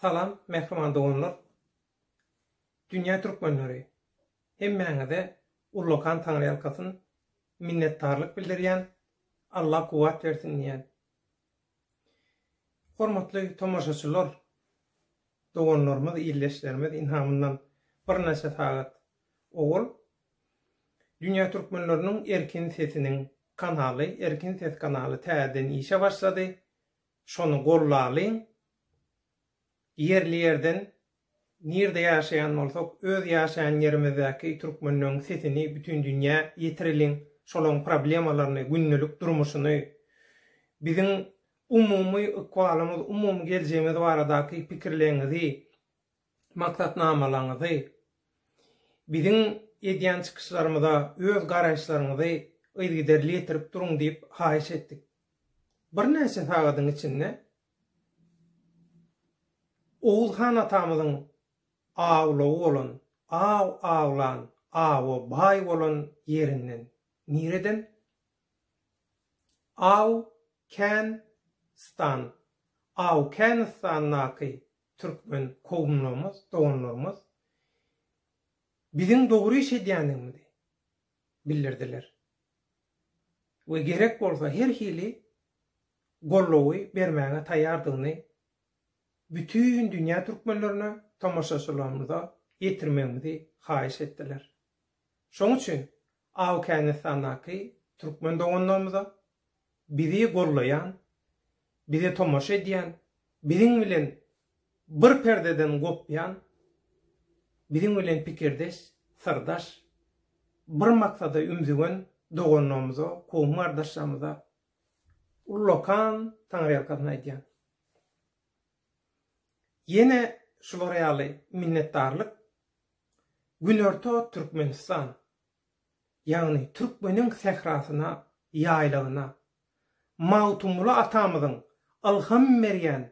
Salam mähriban doganlar Dünýä Türkmenleri hemmäňize ullakan taňryýalkasyn minnetdarlyk bildirýän Alla kuwwat bersin diýýän Hormatly tomaşaçylar doganlarymyz ildeşlerimiz ynhamyndan birnäçe sagat owal Dünýä Türkmenleriniň Erkin sesiniň kanaly Erkin ses kanaly täzeden işe başlady Şony gollalyň. Ýerli-ýerden nirde ýaşaýan bolsak, öz ýaşaýan ýerimizdäki türkmenleň sesini bütin dünýä ýetireliň. Şolaň problemalaryny, gündelik durmuşyny, biziň umumy ykbalymyz, umumy geljegimiz baradaky pikirleňizi maksatnamalaryňyzy, biziň edýän çykyşlarymyza öz garaýyşlaryňyzy yzygiderli ýetirip duruň diýip haýyş etdik. Birnäçe sagadyň içinde Oguz han atamyzyň awlugy bolan, aw awlan, awa baý bolan ýerinden, nireden? Aw, kän, stan, Awkänistandaky Türkmen kowumlarymyz, doganlarymyz biziň dogry iş edýändigimizi bildirdiler we gerek bolsa her hili goldawy bermäge taýýardygyny bütin dünýä türkmenlerine, tomaşaçylarymyza ýetirmegimizi haýyş etdiler. Şonuň üçin Awgänistandaky türkmen doganlarymyza, bizi gollaýan, bize tomaşa edýän, biziň bilen bir perdeden gopýan, biziň bilen pikirdeş, syrdaş, bir maksada ümzügen doganlarymyza, kowum-gardaşlarymyza ullakan taňryýalkasyn aýdýan. Ýene şular ýaly minnetdarlyk Günorta Türkmenistan, ýagny türkmeniň sährasyna, ýaýlagyna, Magtymguly atamyzyň ylham berýän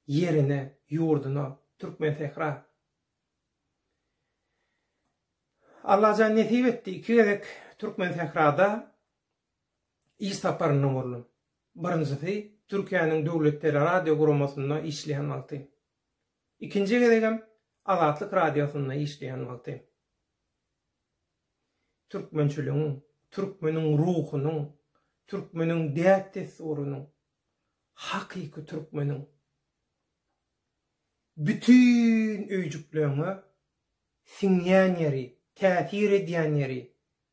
ýerine, ýurduna, Türkmensähra. Allajan nesip etdi, iki gezek Türkmensährada iş saparynda boldum. Birinjisi Türkiýäniň Döwlet teleradioguramosynda işleýän wagty. Ikinji gezegem Azatlyk Radiosynda işleýän wagty türkmençiligiň, türkmeniň ruhunyň, türkmeniň däp-dessurynyň, hakyky türkmeniň bütin öýjükleňňe siňýän ýeri, täsir edýän ýeri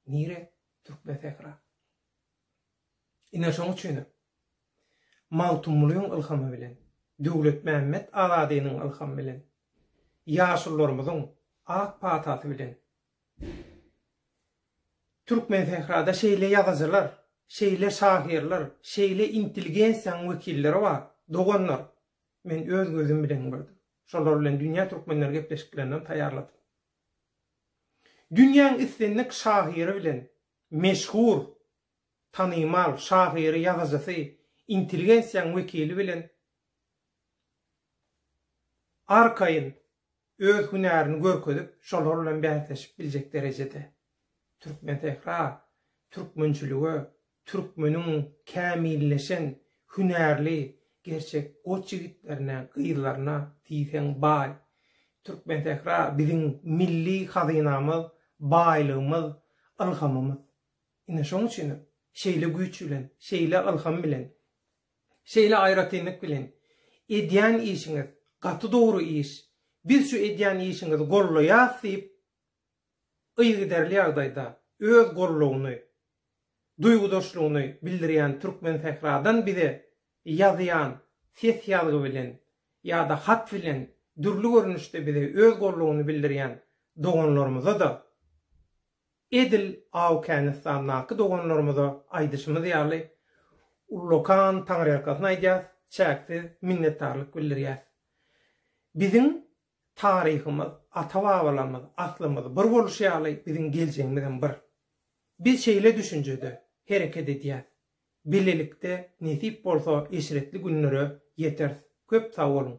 nire? Türkmensähra. Ine şoň üçinem. Magtymgulyň ylhamy bilen, Döwletmämmet Azadynyň ylhamy bilen, ýaşulularymyzyň ak patasy bilen Türkmensährada şeýle ýazyjylar, şeýle şahyrlar, şeýle intelligensiýanyň wekilleri bar, doganlar. Men öz gözüm bilen gördüm. Şolar bilen dünýä türkmenleri gepleşiklerinem taýýarladym. Dünýäň islendik şahyry bilen, meşhur tanymal şahyry ýazyjysy intelligensiýaň wekili bilen arkaýyn öz hünärini görkezip şolar bilen bäsleşip biljek derejede Türkmensähra türkmençilige türkmeniň kämilleşen hünärli gerçek goç ýigitlerine gyzlaryna diýseň baý Türkmensähra biziň milli hazynamyz baýlygymyz ylhamymyz. Ine şoň üçinem, şeýle güýç bilen, şeýle ylham bilen, şeýle aýratynlyk bilen edýän işiňiz gaty dogry iş, biz şu edýän işiňizi gollaýas diýip, yzygiderli ýagdaýda öz gollugyny, duýgudaşlygyny bildirýän Türkmensähradan bize ýazýan ses ýazgy bilen ýa-da hat bilen dürli görnüşde bize öz gollugyny bildirýän doganlarymyza-da Edil Awgänistandaky doganlarymyza aýdyşymyz ýaly, ullakan taňryýalkasyn aýdýas, çäksiz minnetdarlyk bildirýäs. Biziň taryhymyz, ata-babalarymyz, aslymyz bir bolşy ýaly, biziň geljegimizem bir. Biz şeýle düşünjede hereket edýäs. Bilelikde nesip bolsa eşretli günlere ýeteris. Köp sag boluň!